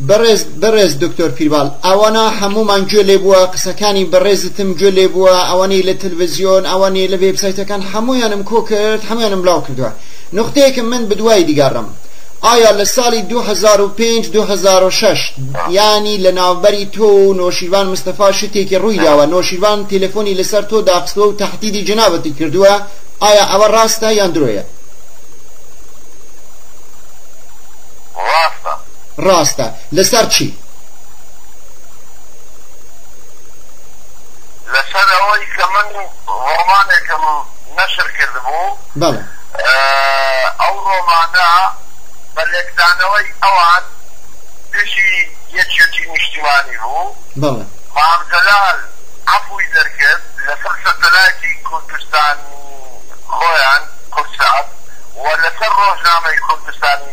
بەڕێز بەڕێز دکتۆر پیرباڵ ئەوەنە هەموومان گوێ لێ بووە قسەکانی بەڕێزتم گوێ لێ بووە ئەوەنەی لە تلڤزیۆن ئەوەنەی لە وێبسایتەکان هەموویانم کۆ کرد هەموویانم بلاو کردووە نوختەیەکم من بدوای دیگەڕم ئایا لە ساڵی 2005 2006 یانی لە ناوبەری تۆ و نۆشیروان مستەفا شتێکی ڕووی داوە نۆشیروان تەلەفۆنی لەسەر تۆ داخستووە و تەحدیدی جنابەتی کردووە ئایا ئەوە ڕاستە یان درۆیە؟ ڕاستە. ڕاستە لەسەر چی؟ لەسەر ئەوەی کە من ڕۆمانێکم نەشر کردبوو. بەڵێ. ئەو ڕۆمانە بە لێکدانەوەی ئەوان دژی یەکیەتی نیشتیمانی بوو. بەڵێ. مام جەلال عەفوی دەرکرد لەسەر سەتەلایتی کوردستان خۆیان، کوردسات، و لەسەر ڕۆژنامەی کوردستانی.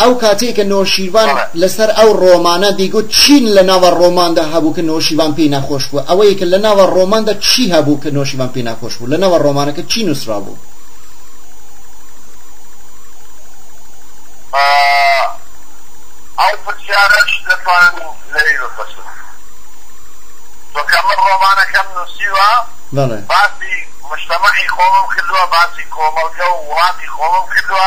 ئەو کاتەی کە نۆشیروان لە سەر ئەو رۆمانە دیگوت چین لە ناوە رۆماندا هەبوو کە نۆشیروان پێی ناخۆش بوو ئەوەی کە لە ناوە رۆماندا چی هەبوو کە نۆشیروان پێی ناخۆش بوو لە ناوە رۆمانەکە چی نوسرابوو؟ ئەو پرسیارەش دەتوانم لەوی بپرسم چۆنکە من رۆمانەکەم نوسیوە باسی مجتمعی خۆمم کردوە باسی کۆمەلگە و ولاتی خۆمم کردوە.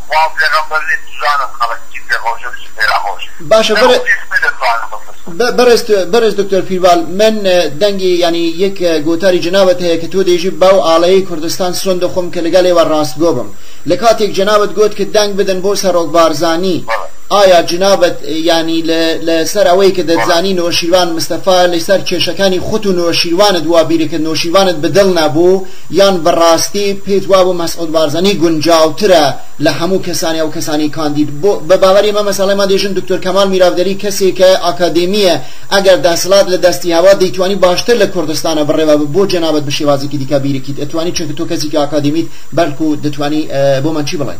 خوا پێغەمبەر نیە بزانم خەڵک چی پێ خۆشە و چی پێ ناخۆشە باشە بەر نەخۆشی سپی دەتوانم بپرسم. بەڕێز بەڕێز دکتۆر پیربال من دەنگی یانی یەک گۆتاری جەنابت هەیە کە تۆ دەیژی باو ئاڵەیەی کوردستان سۆن دەخۆم کە لەگەڵ ئێوە ڕاستگۆ بم لە کاتێک جەنابت گۆت کە دەنگ بدەن بۆ سەڕۆک بارزانی بەڵێ ئایا جنابت یانی لە لە سەر ئەوەی کە بەڵێ دەتزانی نۆشیروان مستەفا لە سەر کێشەکانی خوت و نۆشیروانت وا بیرەکەت نۆشیروانت بە دڵ نەبوو یان بەڕاستی پێت وابوو مەسعود بارزانی گونجاوترە لە هەموو کەسانی ئەو کەسانی کاندید بۆ بە باوەری من مەسەڵەی من دەیژن دکتۆر کەمال میراڤدەلی کەسێکە ئاکادێمییە ئەگەر دەسڵات لە دەستی هەبا دەیتوانی باشتر لە کوردستانە بڕێوا بە بۆ جەنابت بە شێوازێکی دیکە بیرکیت ئەتوانی چونکە تۆ کەسێکی ئاکادێمیت بەلکو دەتوانی بۆ من چی بڵێ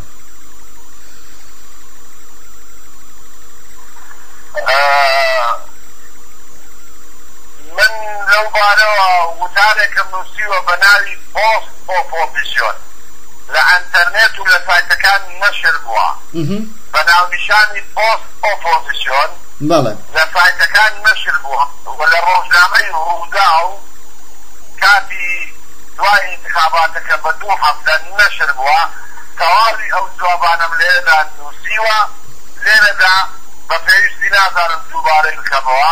من لەو بارەوە وتارێکم نووسیوە بە ناوی پۆست ئۆپۆزیسیۆن، لە ئەنتەرنێت و لە سایتەکان نەشر بووە بە ناونیشانی پۆست ئۆپۆزیسیۆن، لە سایتەکان نەشر بووە و لە ڕۆژنامەی ڕووداو کاتی دوای ئینتخاباتەکە بە دوو هەفتە نەشر بووە، تەواوی ئەو جوابانەم لەوێدا نووسیوە، لێرەدا بە پێویستی نازانم دووبارەی بکەمەوە.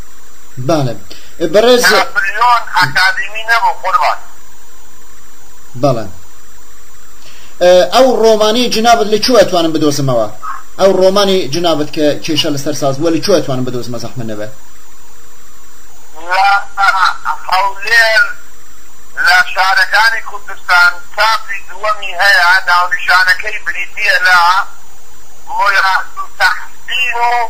بەڵێ بەڕێز ناپلیۆن ئەکادیمی نەبوو قوربان. بەڵێ ئەو ڕۆمانی جنابت لە کوێ ئەتوانم بدۆزمەوە ئەو ڕۆمانی جنابت کە کێشە لەسەر ساز بووە لە کوێ ئەتوانم بدۆزمە زەحمە نەبێ هەولێر لە شارەکانی کوردستان چاپی دووەمی هەیە ناونیشانەکەی بریتییە لە ملا تحسین و